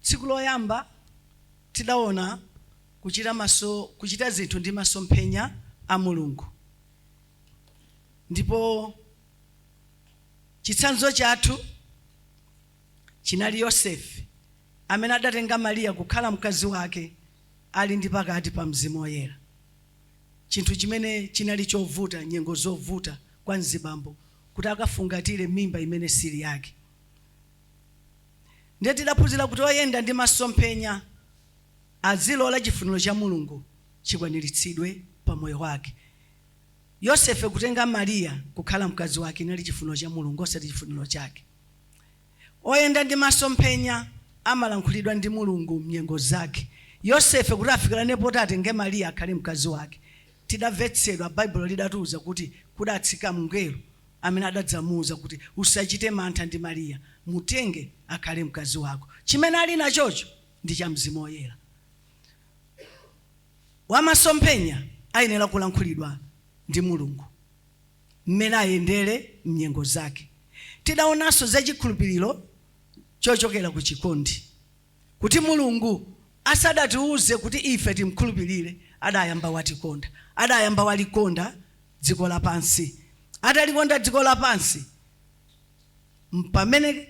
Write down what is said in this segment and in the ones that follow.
Tsiku loyamba tidaona kuchita zinthu ndi masomphenya a Mulungu ndipo chitsanzo chathu chinali Yosefe amene adatenga Maria kukhala mkazi wake ali ndi pakati pa Mzimu Woyera, chinthu chimene chinali chovuta nyengo zovuta kwa mzibambo kuti akafungatire mimba imene sili yake. Ndiye tidaphunzira kuti oyenda ndi masomphenya adzilola chifuniro cha Mulungu chikwaniritsidwe pa moyo wake. Yosefe kutenga Maria kukhala mkazi wake inali chifuniro cha Mulungu osati chifuniro chake. Oyenda ndi masomphenya amalankhulidwa ndi Mulungu mnyengo zake. Yosefe kuti afikirane poti atenge Maria akhale mkazi wake, tidamvetsedwa, Baibulo lidatiuza kuti kudatsika mngelo amene adadzamuuza kuti, Usachite mantha ndi Mariya, mutenge akhale mkazi wako. Chimene ali nachocho ndi cha Mzimu Woyera. Wamasomphenya ayenera kulankhulidwa ndi Mulungu mmene ayendere m'nyengo zake. Tidaonanso za chikhulupiriro chochokera ku chikondi. kuti Mulungu asadatiuze kuti ife timkhulupirire, adayamba watikonda. Adayamba walikonda dziko lapansi. Atalikonda dziko lapansi, mpamene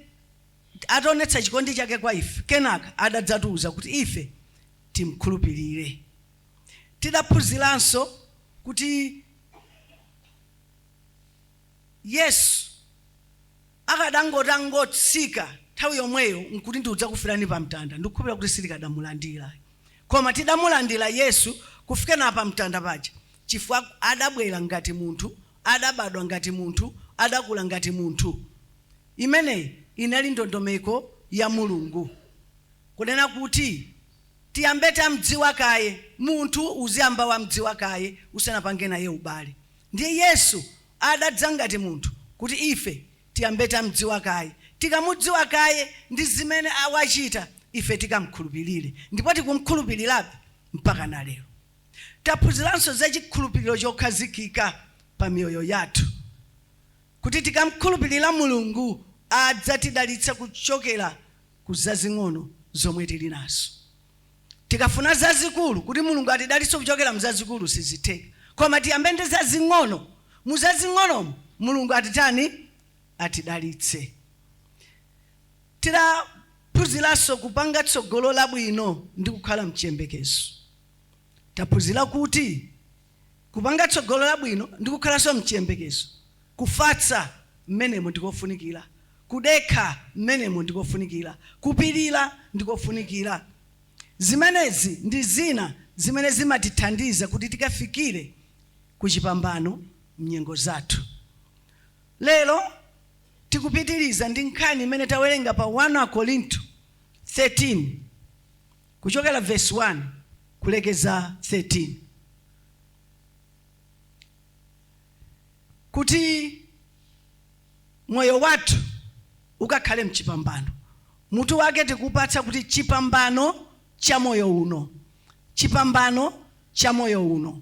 adationetsa chikondi chake kwa ife, kenaka adadzatiuza kuti ife timkhulupirire. Tidaphunziranso kuti. Yesu akadangoti angotsika nthawi yomweyo nkuti ndikudzakufirani pa mtanda, ndikukhulupirira kuti sitikadamulandira. Koma tidamulandira Yesu kufikana pa mtanda paja chifukwa adabwera ngati munthu, adabadwa ngati munthu, adakula ngati munthu. Imeneyi inali ndondomeko ya Mulungu kunena kuti tiyambe tamdziwa kaye. Munthu uziyamba wamdziwa kaye usanapange naye ubale. Ndiye Yesu adadza ngati munthu kuti ife tiyambe tamdziwa kaye. Tikamudziwa kaye ndi zimene a, wachita, ife tikamkhulupirire. Ndipo tikumkhulupirirabe mpakana lero. Taphunziranso za chikhulupiriro chokhazikika pa miyoyo yathu. Kuti tikamkhulupirira Mulungu adzatidalitsa kuchokera ku zazing'ono zomwe tili nazo. Tikafuna zazikulu kuti Mulungu atidalitse kuchokera mzazikulu sizitheka koma tiyambe ndi zazing'ono muzazing'onomo Mulungu atitani atidalitse. Tidaphunziranso kupanga tsogolo labwino ndi kukhala mchiyembekezo. Taphunzira kuti. kupanga tsogolo labwino ndi kukhalanso m'chiyembekezo. Kufatsa mmenemo ndi kofunikira. Kudekha mmenemo ndi kofunikira. Kupirira ndi kofunikira. Zimenezi ndi zina zimene zimatithandiza kuti tikafikire ku chipambano m'nyengo zathu. Lero tikupitiriza ndi nkhani imene tawerenga pa 1 Akorinto 13. kuchokera vesi 1 kulekeza 13, kuti moyo wathu ukakhale mchipambano. Mutu wake tikupatsa kuti chipambano cha moyo uno, chipambano cha moyo uno.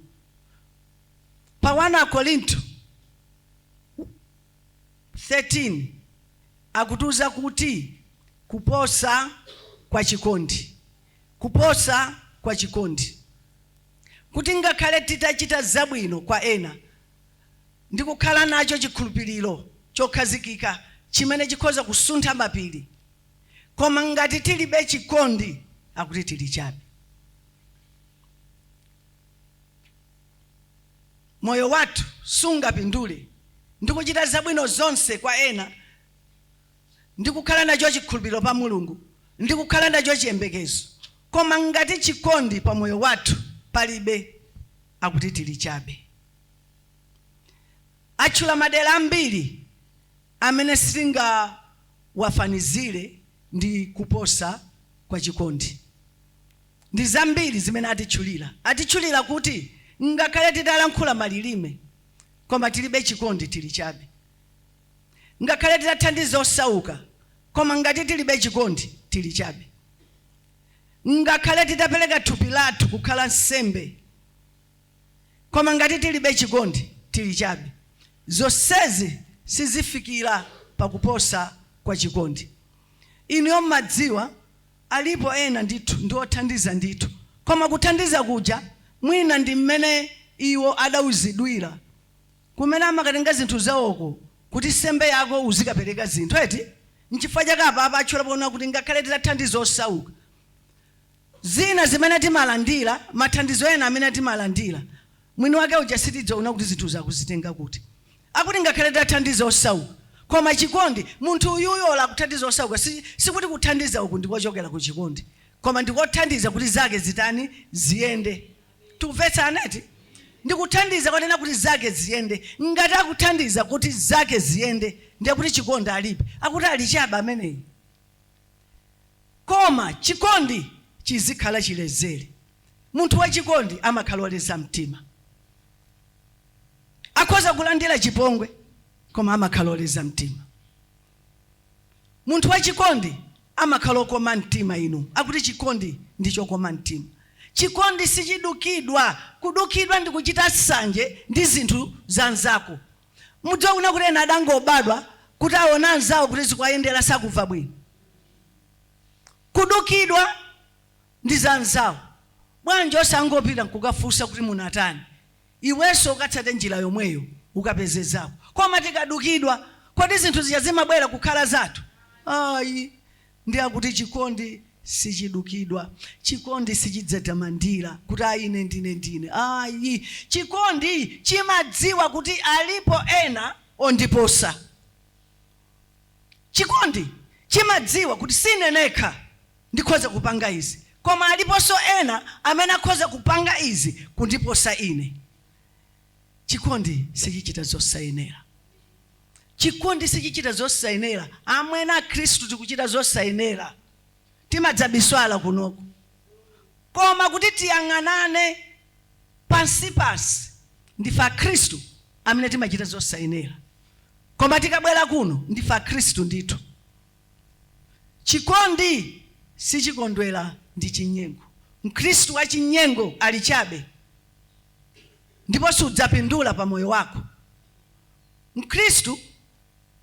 Pa 1 Akorinto 13 akutiuza kuti, Kuposa kwa chikondi, kuposa kwa chikondi, kuti ngakhale titachita zabwino kwa ena ndi kukhala nacho chikhulupiriro chokhazikika chimene chikhoza kusuntha mapiri, koma ngati tilibe chikondi, akuti tili chabe. Moyo wathu sungapindule ndi kuchita zabwino zonse kwa ena ndi kukhala nacho chikhulupiriro pa Mulungu ndi kukhala nacho chiyembekezo, koma ngati chikondi pa moyo wathu palibe, akuti tili chabe. Atchula madera ambiri amene sitingawafanizire ndi kuposa kwa chikondi. Ndi zambiri zimene atitchulira. Atitchulira kuti ngakhale titalankhula malilime koma tilibe chikondi tili chabe. Ngakhale titathandiza osauka koma ngati tilibe chikondi tili chabe. Ngakhale titapereka thupi lathu kukhala nsembe koma ngati tilibe chikondi tili chabe. Zonsezi sizifikira pa kuposa kwa chikondi. Inuyo mumadziwa Alipo ena ndithu, ndi othandiza ndithu, koma kuthandiza kuja mwina ndi mmene iwo adauzidwira kumene amakatenga zinthu zawoko kuti nsembe yako uzikapereka zinthu eti nchifukwa chake apapa atchula ponena kuti ngakhale titathandiza osauka zina zimene timalandira mathandizo ena amene timalandira mwini wake uja sitidzaona kuti zinthuzo akuzitenga kuti. akuti ngakhale tathandiza osauka koma chikondi, munthu uyuyu olo akuthandiza osauka sikuti kuthandiza uku ndikochokera ku chikondi koma ndikothandiza kuti zake zitani ziyende tikumvetsana eti ndi kuthandiza konena kuti zake ziyende ngati akuthandiza kuti zake ziyende ndiye kuti chikondi alibe akuti ali chabe ameneyi koma chikondi chikhala chilezere munthu wachikondi amakhala oleza mtima akhoza kulandira chipongwe koma amakhala oleza mtima munthu wachikondi amakhala okoma mtima inu akuti chikondi ndi chokoma mtima chikondi sichidukidwa kudukidwa ndi kuchita sanje ndi zinthu za nzako mudziwa kunena kuti ena adangobadwa kuti aona anzawo kuti zikuwayendera sakumva bwino kudukidwa ndi za anzawo bwanji osangopita nkukafunsa kuti munatani iwenso ukatsate njira yomweyo ukapeze zako koma tikadukidwa kodi zinthu zija zimabwera kukhala zathu ayi ndiye akuti chikondi sichidukidwa chikondi sichidzitamandira kuti ayi ine ndine ndine ayi chikondi chimadziwa kuti alipo ena ondiposa Chikondi chimadziwa kuti si ine nekha ndikhoza kupanga izi, koma aliponso ena amene akhoza kupanga izi kundiposa ine. Chikondi sichichita zosayenera. Chikondi sichichita zosayenera. Amwene Akhristu tikuchita zosayenera. Timadzabisala kunoko. Koma kuti tiyang'anane pansipansi, ndife Akhristu amene timachita zosayenera. Koma tikabwera kuno, ndife Akhristu ndithu. Chikondi sichikondwera ndi chinyengo. Mkhristu wachinyengo ali chabe ndipo sudzapindula pa moyo wako. Mkhristu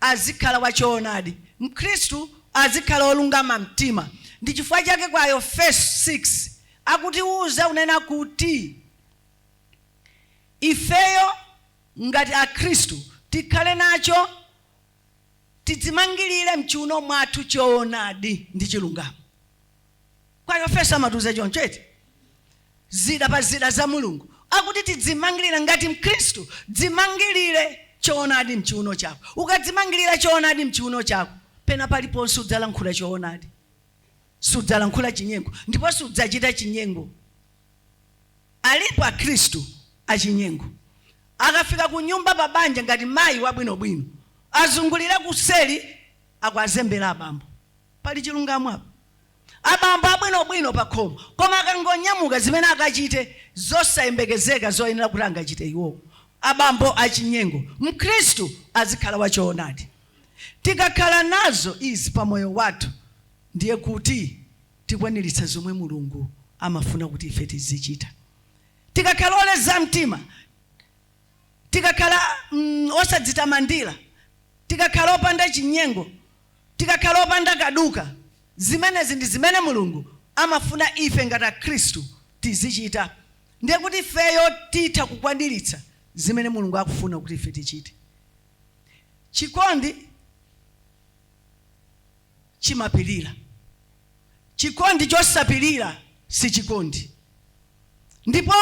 azikhala wa choonadi. Mkhristu azikhala wolungama mtima. Ndi chifukwa chake kwa Aefeso 6 akutiuza kunena kuti ifeyo. ngati akhristu tikhale nacho tidzimangilire mchiuno mwathu choonadi ndi chilungamo kwa aefeso amatiuza choncho eti zida pa zida za mulungu akuti tidzimangilire ngati mkhristu dzimangilire choonadi mchiuno chako ukadzimangilira choonadi mchiuno chako pena paliponse udzalankhula choonadi sudzalankhula chinyengo ndipo sudzachita chinyengo Alipo akhristu achinyengo. Akafika kunyumba pa banja ngati mayi wabwinobwino azungulire kuseli akuwazembera abambo. Pali chilungamo apo? Abambo abwinobwino pakhomo koma akangonyamuka zimene akachite zosayembekezeka zoyenera kuti angachite iwowo. Abambo achinyengo. Mkhristu azikhala wa choonadi. Tikakhala nazo izi pa moyo wathu ndiye kuti. tikwaniritsa zomwe Mulungu amafuna kuti ife tizichita. Tikakhala oleza mtima, tikakhala mm, osadzitamandira, tikakhala opanda chinyengo, tikakhala opanda kaduka, zimenezi ndi zimene Mulungu amafuna ife ngati Akhristu tizichita. Ndiye kuti ifeyo titha kukwaniritsa zimene Mulungu akufuna kuti ife tichite. Chikondi chimapilira. Chikondi chosapilira si chikondi. Ndipo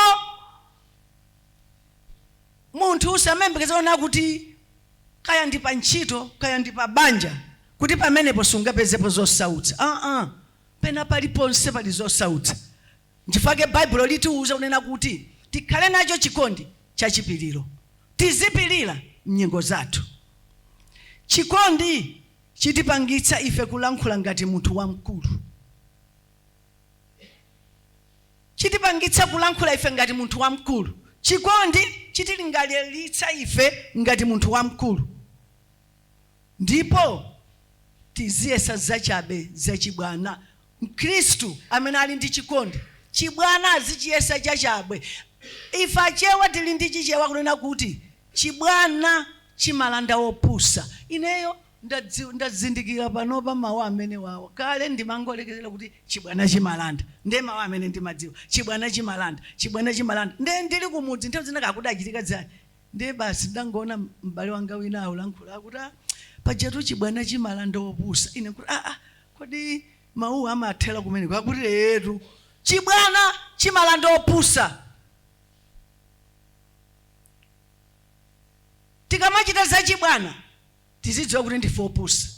munthu usamayembekezere kunena kuti kaya ndi pa ntchito, kaya ndi pa banja kuti pamenepo sungapezepo zosautsa. Aa, penapaliponse pali zosautsa. Nchifukwa chake Baibulo litiuza kunena kuti tikhale nacho chikondi cha chipiliro. Tizipilira mnyengo zathu. Chikondi chitipangitsa ife kulankhula ngati munthu wamkulu. Chitipangitsa kulankhula ife ngati munthu wamkulu. Chikondi chitilingaliritsa ife ngati munthu wamkulu. ndipo tiziyesa zachabe zachibwana. Mkhristu amene ali ndi chikondi, chibwana azichiyesa chachabe. Ife Achewa tili ndi Chichewa kunena kuti, chibwana chimalanda opusa. Ineyo ndazindikira panopa mawu amenewawa. Kale ndimangolekezera kuti chibwana chimalanda. Ndiye mawu amene ndimadziwa, chibwana chimalanda, chibwana chimalanda. Ndiye ndili kumudzi nthawi zina kaya kudachitika ziyani, Ndiye basi ndidangoona m'bale wanga wina akulankhula, akuti, Ah, pajatu chibwana chimalanda opusa. Ine nkuti, Aa, kodi mawuwa amathera kumeneko? Akuti, Eetu, chibwana chimalanda opusa. Tikamachita zachibwana tizidziwa kuti ndife opusa.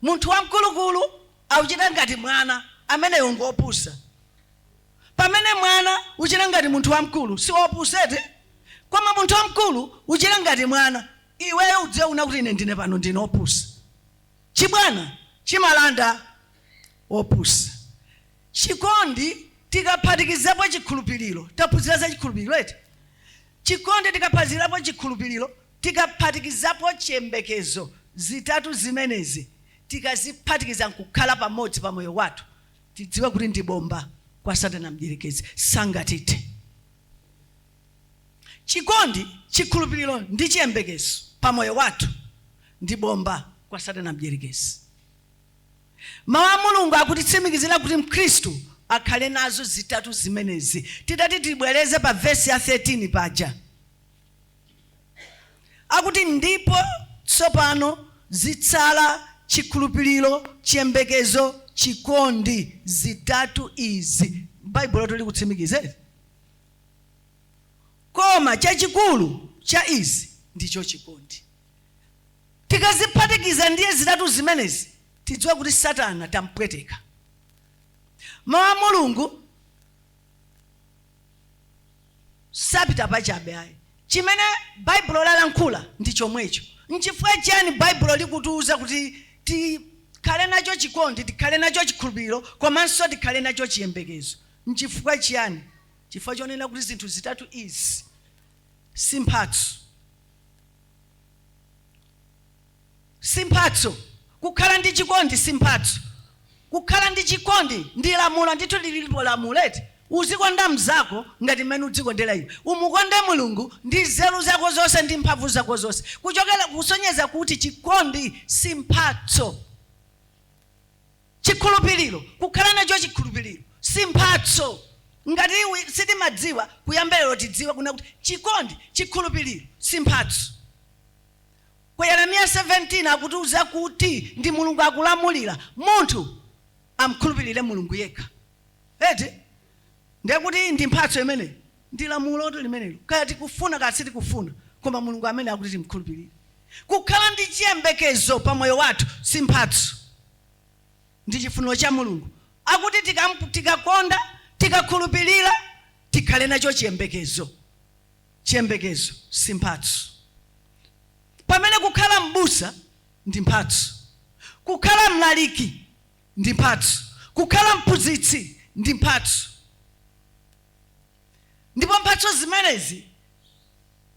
Munthu wamkulukulu auchita ngati mwana, ameneyo ngopusa. Pamene mwana uchita ngati munthu wamkulu, si opusa eti? Koma munthu wamkulu uchita ngati mwana, iweyo udziwe kunena kuti ine ndine pano ndine opusa. Chibwana chimalanda opusa. Chikondi tikaphatikizapo chikhulupiliro, taphunzira za chikhulupiliro eti? Chikondi tikaphatikizapo chikhulupiliro, Tikaphatikizapo chiyembekezo, zitatu zimenezi tikaziphatikiza nkukhala pamodzi pa moyo wathu, tidziwe kuti ndi bomba kwa satana mdyerekezi, sangatithe. Chikondi, chikhulupiriro ndi chiyembekezo pa moyo wathu ndi bomba kwa satana mdyerekezi. Mau a Mulungu akutitsimikizira kuti mkhristu akhale nazo zitatu zimenezi. Titati tibwereze pa vesi ya 13 paja. Akuti, Ndipo tsopano zitsala chikhulupiriro, chiyembekezo, chikondi, zitatu izi. Baibulotu likutitsimikizira izi. Koma chachikulu cha izi ndicho chikondi. Tikaziphatikiza ndiye zitatu zimenezi, tidziwa kuti Satana tampweteka. Mawu a Mulungu sapita pachabe ayi chimene baibulo lalankhula ndi chomwecho nchifukwa chiyani baibulo likutiuza kuti tikhale nacho chikondi tikhale nacho chikhulupiriro komanso tikhale nacho chiyembekezo nchifukwa chiyani chifukwa chonena kuti zinthu zitatu izi si mphatso si mphatso. Kukhala ndi chikondi si mphatso. Kukhala ndi chikondi ndi lamulo. Ndithu lilipo lamulo eti? Uzikonda mnzako ngati mmene udzikondera iwe. Umukonde Mulungu ndi nzeru zako zonse ndi mphamvu zako zonse. Kuchokera kusonyeza kuti chikondi si mphatso. Chikhulupiriro, kukhala nacho chikhulupiriro si mphatso. Ngati sitimadziwa kuyamba lero tidziwe kunena kuti chikondi, chikhulupiriro si mphatso. Ku Yeremiya 17 akutiuza kuti ndi Mulungu akulamulira, munthu amkhulupilire Mulungu yekha. Eti? Ndiye kuti ndi mphatso imeneyo? Ndi lamulotu limenelo, kaya tikufuna kaya sitikufuna, koma Mulungu ameneyu akuti timkhulupilire. Kukhala ndi chiyembekezo pa moyo wathu si mphatso, ndi chifuniro cha Mulungu. Akuti tikamu, tikakonda, tikakhulupilira, tikhale nacho chiyembekezo. Chiyembekezo si mphatso. Pamene kukhala m'busa ndi mphatso, kukhala mlaliki ndi mphatso, kukhala mphunzitsi ndi mphatso, ndipo mphatso zimenezi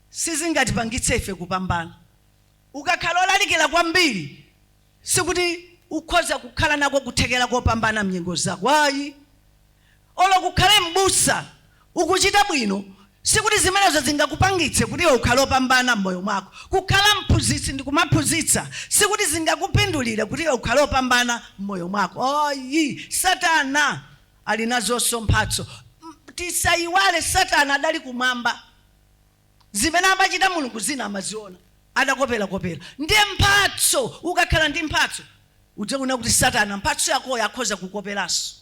sizingatipangitse ife kupambana. Ukakhala olalikira kwambiri. Sikuti ukhoza kukhala nako kuthekera kopambana mnyengo zako ayi. Olo ukhale m'busa ukuchita bwino sikuti zimenezo zingakupangitse kuti iwe ukhale opambana m'moyo mwako. Kukhala mphunzitsi ndikumaphunzitsa sikuti zingakupindulire kuti iwe ukhale opambana m'moyo mwako ayi. Satana ali nazonso mphatso. Tisayiwale satana adali kumwamba. zimene amachita mulungu zina amaziona adakoperakopera ndiye mphatso ukakhala ndi mphatso udzaona kuti satana mphatso yakoyo akhoza kukoperanso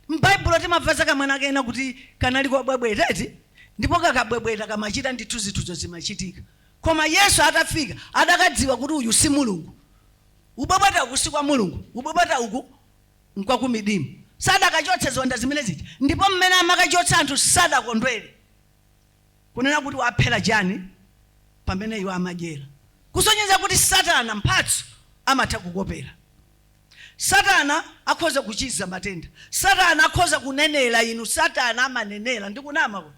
m'baibulo timamva za kamwana kena kake kuti kanali kobwebweta eti ndipo kakabwebweta kamachita ndithu zinthuzo zimachitika koma yesu atafika adakadziwa kuti uyu si mulungu ubwebweta uku si kwa mulungu ubwebweta uku nkwakumidimu adakachotsa ziwanda zimene zija ndipo mmene amakachotsa anthu sadakondwere kunena kuti waphera chani pamene iwo amadyera kusonyeza kuti satana mphatso amatha kukopera satana akhoza kuchiza matenda satana akhoza kunenera inu satana amanenera ndikunama kuti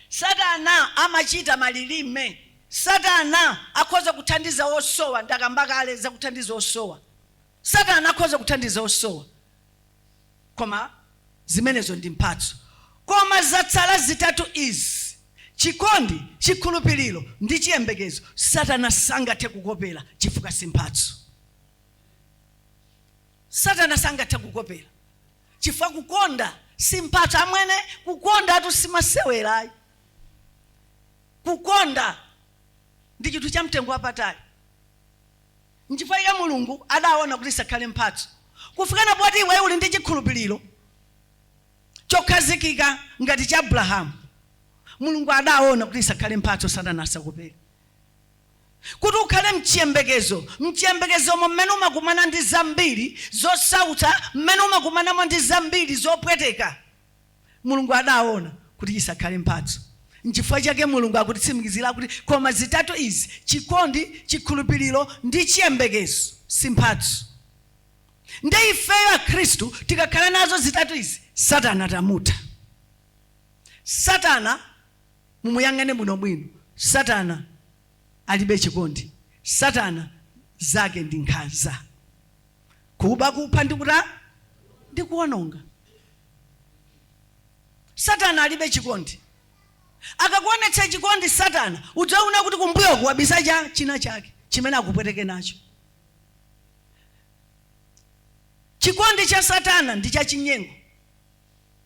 satana amachita malilime satana akhoza kuthandiza osowa ndakamba kale zakuthandiza osowa satana akhoza kuthandiza osowa Koma zimenezo ndi mphatso. Koma zatsala zitatu izi, chikondi, chikhulupiriro, ndi chiyembekezo, Satana sangathe kukopera chifukwa si mphatso. Satana sangathe kukopera chifukwa kukonda si mphatso. Amwene, kukondatu si masewera ayi. Kukonda ndi chinthu chamtengo wapatali. Nchifukwa chake Mulungu adaona kuti isakhale mphatso, kufikana poti iwe uli ndi chikhulupiriro chokhazikika ngati cha Abrahamu, Mulungu adaona kuti isakhale mphatso satana asakopere, kuti ukhale mchiyembekezo, mchiyembekezomo mmene umakumana ndi zambiri zosautsa, mmene umakumanamo ndi zambiri zopweteka. Mulungu adaona kuti chisakhale mphatso. Nchifukwa chake Mulungu akutitsimikizira kuti, Koma zitatu izi, chikondi, chikhulupiriro ndi chiyembekezo, si mphatso. Ndiye ifeyo Akhristu tikakhala nazo zitatu izi, Satana tamutha. Satana mumuyang'ane bwinobwino. Satana alibe chikondi. Satana zake ndi nkhanza. kuba kupha ndi kuta ndi kuononga satana alibe chikondi akakuonetsa chikondi satana udzaona kuti kumbuyoko wabisa cha china chake chimene akupweteke nacho chikondi cha satana ndi cha chinyengo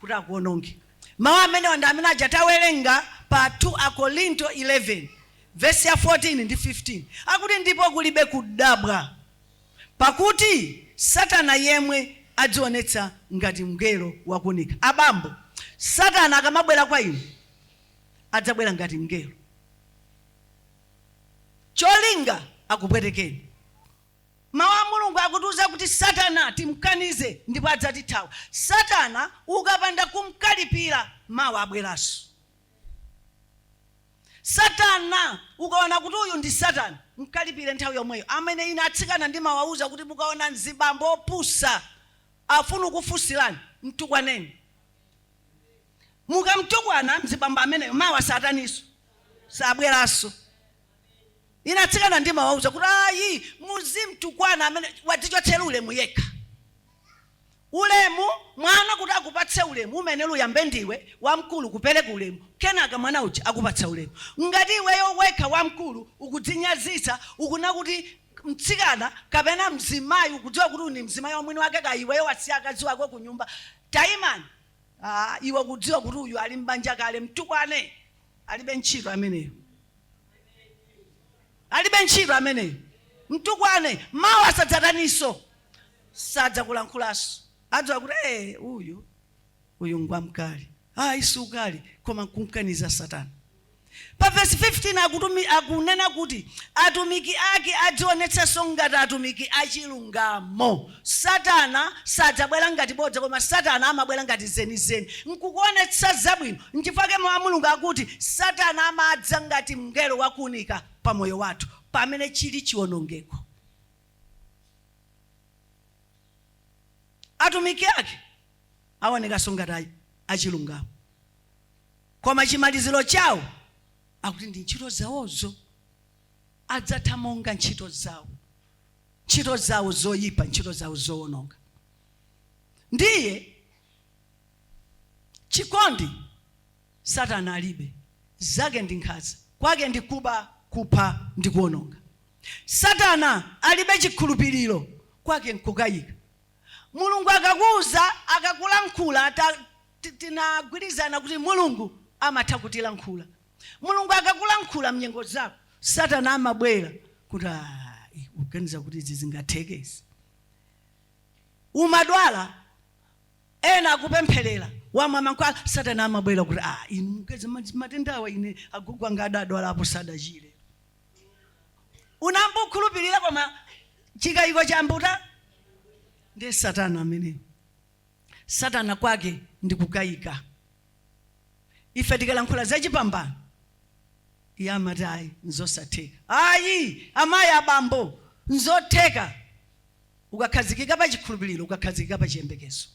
kuti akuononge mawu amenewa ndi amene aja tawerenga pa 2 akorinto 11 vesi ya 14 ndi 15 akuti ndipo kulibe kudabwa Pakuti Satana yemwe adzionetsa ngati mngelo wa kuunika. Abambo, Satana akamabwera kwa inu, adzabwera ngati mngelo. Cholinga, akupwetekeni. Mau a Mulungu akutiuza kuti Satana timkanize ndipo adzatithawa. Satana ukapanda kumkalipira, mawa abweranso. Satana ukaona kuti uyu ndi Satana mkalipire nthawi yomweyo amene ine atsikana ndimawauza kuti mukaona mzibambo opusa afuna kukufunsirani mtukwaneni mukamtukwana mzibambo ameneyo mawa satananso sabweranso ine atsikana ndimawauza kuti ayi muzimtukwana amene wadzichotsera ulemu yekha Ulemu, Mwana kuti akupatse ulemu umene uyambe ndiwe wamkulu kupereka ulemu kenaka mwana uja akupatsa ulemu. Ngati iweyo wekha wamkulu ukudzinyazitsa ukuona kuti mtsikana kapena mzimayi ukudziwa kuti uyu ndi mzimayi wa mwini wake kaya iweyo wasiya akazi ako kunyumba taimani aah iwe ukudziwa kuti uyu ali m'banja kale mtukwane alibe ntchito ameneyo. Alibe ntchito ameneyo. Mtukwane. Mawa sadzataninso? sadzakulankhulanso adziwa kuti ee uyu uyu ngwamkali ayi si ukali koma nkumkaniza satana pa vesi 15 akutumi, akunena kuti atumiki ake adzionetsenso ngati atumiki achilungamo satana sadzabwera ngati bodza koma satana amabwera ngati zenizeni nkukuonetsa zabwino nchifukwa chake mawu a mulungu akuti satana amadza ngati mngelo wakuunika pa moyo wathu pamene chili chiwonongeko atumiki ake aonekanso ngati a- achilungamo koma chimaliziro chawo akuti ndi ntchito zawozo adzatha monga ntchito zawo ntchito zawo zoyipa ntchito zawo zowononga ndiye chikondi satana alibe zake ndi nkhanza kwake ndi kuba kupha ndi kuwononga Satana alibe chikhulupiliro kwake nkukayika. Mulungu akakuuza, akakulankhula ta, ti, tinagwirizana kuti Mulungu amatha kutilankhula. Mulungu akakulankhula mnyengo zako, Satana amabwera kuti ayi ukuganiza kuti izi zingatheke izi. Umadwala ena akupempherera wamwa mankhwala Satana amabwera kuti ah inu matenda awa ine agogo anga adadwalapo sadachire. unayamba kukhulupirira koma chikayiko chambuta ndiye satana ameneyo satana kwake ndi kukayika ife tikalankhula za chipambano iye amati ayi nzosatheka ayi amayi abambo nzotheka ukakhazikika pa chikhulupiriro ukakhazikika pa chiyembekezo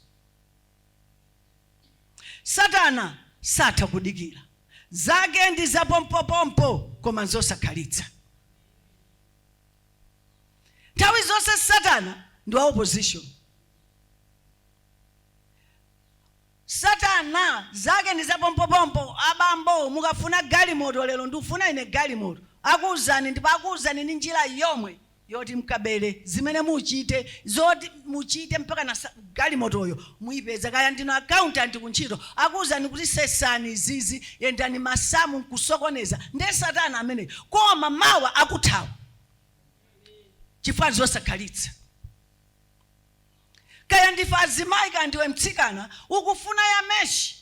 Satana satha kudikira. Zake ndi za pompopompo koma nzosakhalitsa. Nthawi zonse Satana ndi wa opposition. Satana zake ndi za pompopompo. Abambo, mukafuna galimoto lero, ndikufuna ine galimoto. Akuuzani ndipo akuuzani ndi njira yomwe yoti mkabere, zimene muchite, zoti muchite mpakana galimotoyo muipeza, kaya ndinu accountant kuntchito akuuzani kuti sesani izizi, yendani masamu nkusokoneza, nde satana ameneyo koma mawa akuthawa chifukwa nzosakhalitsa. Kaya ndife azimayi kaya ndiwe mtsikana ukufuna ya mesh,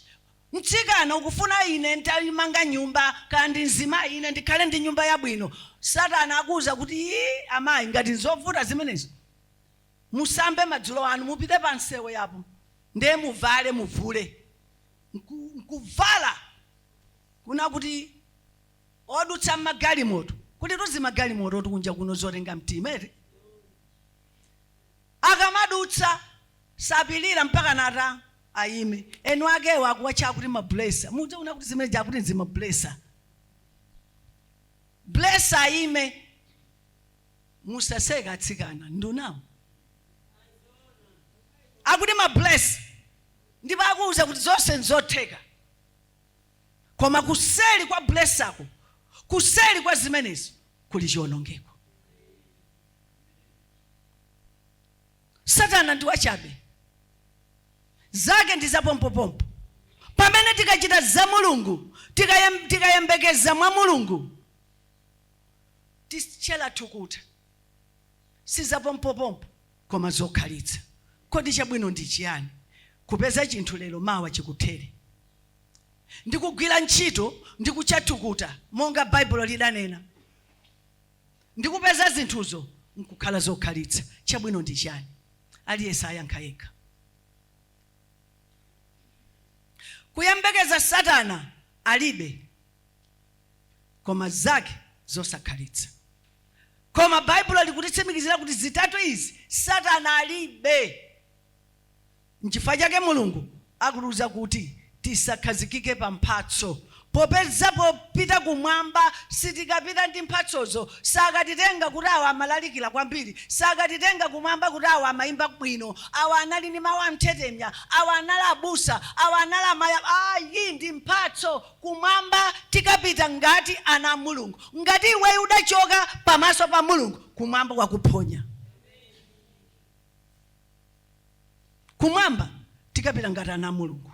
mtsikana ukufuna ine ntaimanga nyumba kaya ndi mzimayi ine ndikhale ndi nyumba yabwino, satana akuuza kuti ii amayi ngati nzovuta zimenezo musambe madzulo anu mupite pa msewu apo ndiye muvale muvule Nku- nkuvala kuna kuti odutsa mmagalimoto kuti tuzimagalimoto tili kunja kuno zotenga mtima eti Akamadutsa sapilira mpakana ataima. Eni akewo akuwatcha akuti ma blesser. Mudziona kuti zimene zija akuti ndizima blesser. Blesser ayime. Musaseke atsikana, ndi nawo. Akuti ma blesser. Ndipo akuuza kuti zonse nzotheka. Koma kuseli kwa blesserko, kuseli kwa zimenezo kuli chionongeko. satana ndi wachabe zake ndi zapompopompo pamene tikachita za mulungu tikayem- tikayembekeza mwa mulungu tikhetsa thukuta si zapompopompo koma zokhalitsa kodi chabwino ndi chiyani kupeza chinthu lero mawa chikuthere ndikugwira ntchito ndi kukhetsa thukuta monga baibulo lidanena ndi kupeza zinthuzo n'kukhala zokhalitsa, chabwino ndi chiyani? Aliyense ayankha yekha. Kuyembekeza Satana alibe koma zake zosakhalitsa. Koma Baibulo likutitsimikizira kuti zitatu izi Satana alibe. Nchifukwa chake Mulungu akutiuza kuti tisakhazikike pa mphatso, popeza popita kumwamba sitikapita ndi mphatsozo. Sakatitenga kuti awa amalalikira kwambiri, sakatitenga kumwamba kuti awa amaimba bwino, awa anali ndi mau amthetemya, awa anali abusa, awa anali amayi. Iyi ndi mphatso. Kumwamba tikapita ngati ana a Mulungu. Ngati iweyo udachoka pamaso pa Mulungu, kumwamba kwakuphonya. kumwamba tikapita ngati ana a mulungu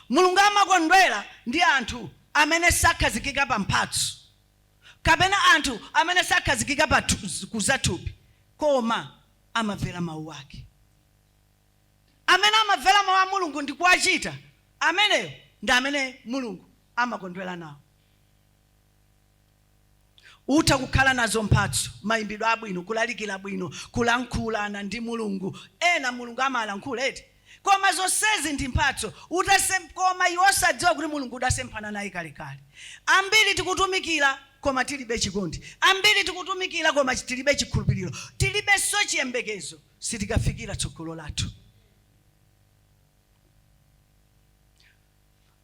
mulungu amakondwera ndi anthu amene sakhazikika pa mphatso kapena anthu amene sakhazikika pa thu- kuzathupi koma amamvera mawu ake amene amamvera mawu a mulungu ndi kuwachita ameneyo ndi amene mulungu amakondwera nawo Utha kukhala nazo mphatso, mayimbidwe abwino, kulalikira bwino, kulankhulana ndi Mulungu, ena Mulungu amalankhula eti, koma zonsezi ndi mphatso, utasemp koma iwe osadziwa kuti Mulungu udasemphana naye kalekale. Ambiri tikutumikira koma tilibe chikondi, ambiri tikutumikira koma tilibe chikhulupiliro, tilibenso chiyembekezo, sitikafikira tsogolo lathu.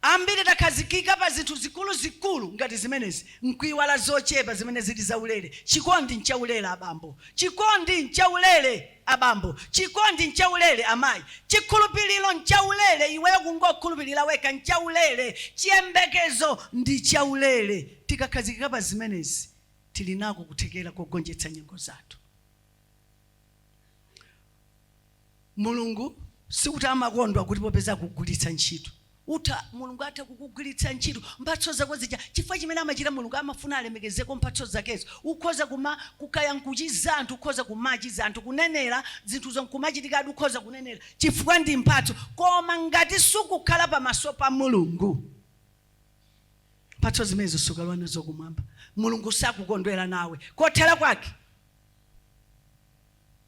Ambiri takhazikika pa zinthu zikuluzikulu ngati zimenezi n'kuiwala zochepa zimene zili zaulere. Chikondi n'chaulere abambo. Chikondi n'chaulere abambo. Chikondi n'chaulere amayi. Chikhulupiriro n'chaulere, iweyo kungokhulupirira wekha n'chaulere. Chiyembekezo ndi chaulere. Tikakhazikika pa zimenezi, tili nako kuthekera kogonjetsa nyengo zathu. Mulungu sikuti amakondwa kuti popeza akugwiritsa ntchito utha Mulungu atha kukugwiritsa ntchito mphatso zako zija chifukwa chimene amachita Mulungu amafuna alemekezeko mphatso zakezo ukhoza kuma kukaya nkuchiza anthu ukhoza kumachiza anthu kunenera zinthuzo nkumachitika adi ukhoza kunenera chifukwa ndi mphatso koma ngati sukukhala pamaso pa Mulungu mphatso zimenezo sukalowa nazo kumwamba Mulungu sakukondwera nawe kothera kwake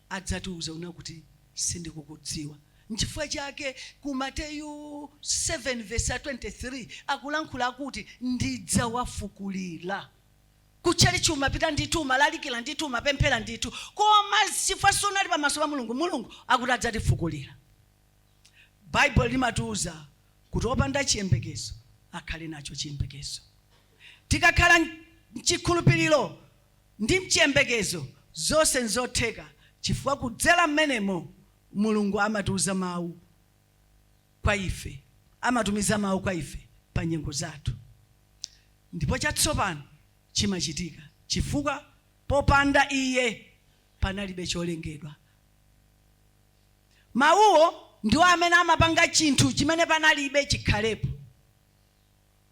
adzatiuza una kuti, Sindikukudziwa. Nchifukwa chake ku Mateyu 7:23 akulankhula akuti, Ndidzawafukulira. Kutchalitchi umapita ndithu, umalalikira ndithu, umapemphera ndithu, koma chifukwa sunali pamaso pa Mulungu, Mulungu akuti adzatifukulira. Baibulo limatiuza kuti opanda chiyembekezo akhale nacho chiyembekezo. Tikakhala mchikhulupiriro ndi mchiyembekezo zonse nzotheka chifukwa kudzera mmenemo Mulungu amatiuza mau kwa ife, amatumiza mau kwa ife pa nyengo zathu ndipo chatsopano chimachitika chifukwa popanda Iye panalibe cholengedwa. Mauwo ndiwo amene amapanga chinthu chimene panalibe chikhalepo.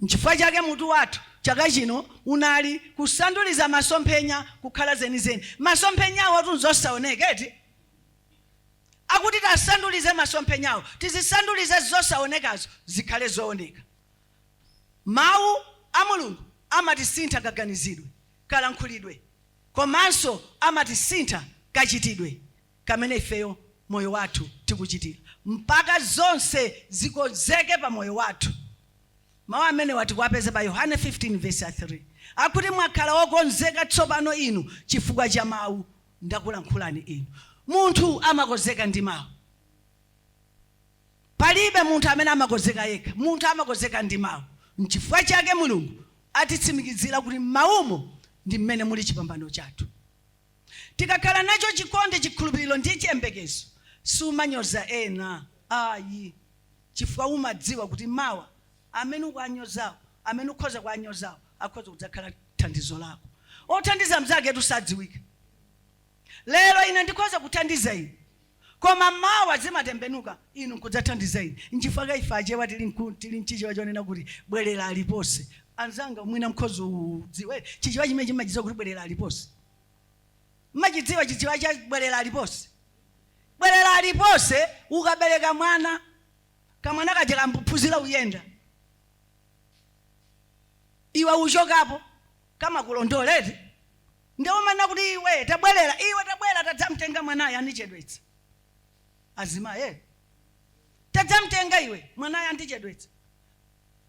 Nchifukwa chake mutu wathu chaka chino unali Kusanduliza Masomphenya Kukhala Zenizeni. Masomphenyawotu nzosaoneka, eti? Akuti tiasandulize masomphenyawo, tizisandulize zosaonekazo zikhale zooneka. Mawu a Mulungu amatisintha kaganizidwe, kalankhulidwe, komanso amatisintha kachitidwe. kamene ifeyo moyo wathu tikuchitira mpaka zonse zikonzeke pa moyo wathu mau amenewa tikuwapeza pa yohane 15 vs 3 akuti mwakhala okonzeka tsopano inu chifukwa cha mau ndakulankhulani inu munthu amakonzeka ndi mau palibe munthu amene amakonzeka yekha munthu amakonzeka ndi mau nchifukwa chake mulungu atitsimikizira kuti mmaumo ndi mmene muli chipambano chathu Tikakhala nacho chikondi, chikhulupiriro ndi chiyembekezo, sumanyoza ena ayi chifukwa umadziwa kuti mawa amene ukuwanyozawo, amene ukhoza kuwanyozawo akhoza kudzakhala thandizo lako. Othandiza mnzaketu sadziwika. Lero ine ndikhoza kuthandiza inu koma mawa zimatembenuka inu nkudzathandiza ine. Nchifukwa chake ife Achewa tili nku, tili nchichewa chonena kuti bwerera aliponse. Anzanga, mwina mkhoza udziwa chichewa chimene chimmachidziwa kuti bwerera aliponse. Mmachidziwa chichewa cha bwerera aliponse? Bwerera aliponse, ukabereka mwana, kamwana kaja kambuphunzira uyenda, iwe uchokapo. kamakulondola eti nde umanena kuti iwe tabwerera iwe tabwera tadzamtenga mwanayo andichedwetsa azimayi eh. tadzamtenga iwe mwanayo andichedwetsa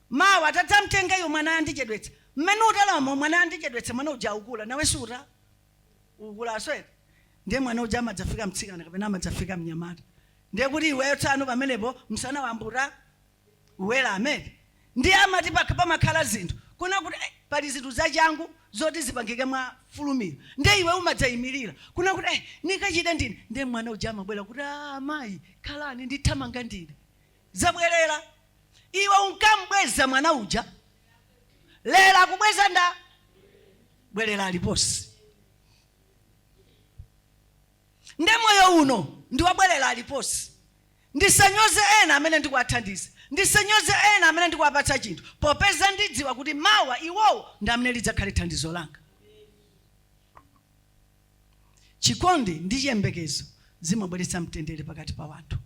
mawa tadzamtenga iwe mwanayo andichedwetsa mmene utalamo mwanayo andichedwetsa mwana uja aukula nawe suta kukula aswere ndiye mwana uja amadzafika mtsikana kapena amadzafika mnyamata ndiye kuti iweyo tsano pamenepo msana wambuta Uwera amene ndiye amati pakhomo pamakhala zinthu kunena kuti eh pali zinthu zachangu zoti zipangike mwa fulumira ndiye iwe umadzayimirira kunena kuti eh nikachite ndine ndiye mwana uja amabwera kuti aah amayi khalani ndithamanga ndine zabwerera iwe unkam'bweza mwana uja lero akubweza nda bwerera aliponse nde moyo uno ndi wa bwerera aliponse ndisanyoze ena amene ndikuwathandiza ndisanyoze ena amene ndikuwapatsa chinthu popeza ndidziwa kuti mawa iwowo ndi amene lidzakhale thandizo langa chikondi ndi chiyembekezo zimabweretsa mtendere pakati pa wanthu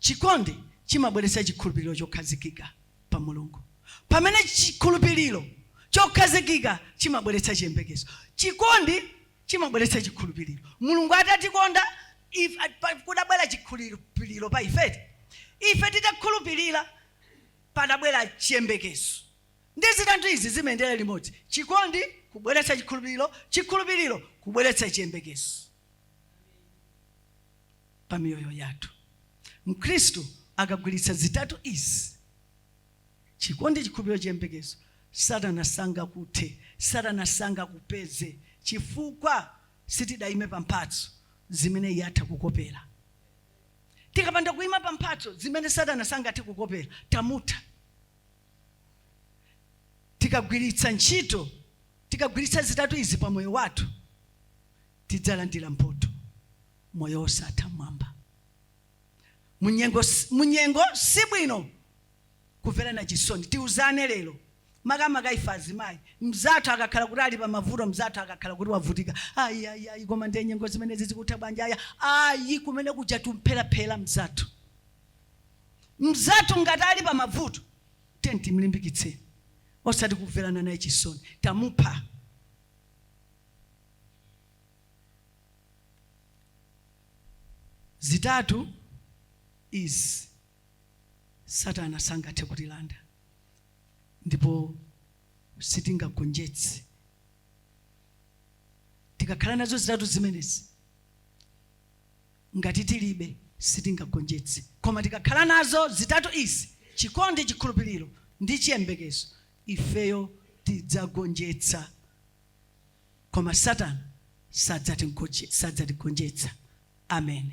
chikondi chimabweretsa chikhulupiriro chokhazikika pa mulungu pamene chikhulupiriro chokhazikika chimabweretsa chiyembekezo chikondi chimabweretsa chikhulupiriro. Mulungu atatikonda ife, pa, kudabwera chikhulupiriro pa ife eti? Ife titakhulupirira padabwera chiyembekezo. Ndi zitatu izi zimayendera limodzi, chikondi kubweretsa chikhulupiriro, chikhulupiriro kubweretsa chiyembekezo pa miyoyo yathu. Mkhristu akagwiritsa zitatu izi, Chikondi, chikhulupiriro, chiyembekezo, Satana sangakuthe, Satana sangakupeze, chifukwa sitidaime pa mphatso zimene iye atha kukopera. Tikapanda kuima pa mphatso zimene Satana sangathe kukopera, tamutha. Tikagwiritsa ntchito, tikagwiritsa zitatu izi pa moyo wathu, tidzalandira mphotho, moyo wosatha m'mwamba. munyengo, munyengo si bwino kumverana chisoni tiuzane lero makamaka ife azimayi mzathu akakhala kuti ali pamavuto mzathu akakhala kuti wavutika ayi ayi koma ndiye nyengo zimenezi zikutha bwanji aya ayi kumene kuja tumpheraphera mzathu mzathu ngati ali pamavuto tiyeni timlimbikitseni osati kumverana naye chisoni tamupha zitatu izi satana sangathe kutilanda ndipo sitingagonjetse tikakhala nazo zitatu zimenezi ngati tilibe sitingagonjetse koma tikakhala nazo zitatu izi chikondi chikhulupiriro ndi chiyembekezo ifeyo tidzagonjetsa koma satana sadzatinkoche- sadzatigonjetsa amen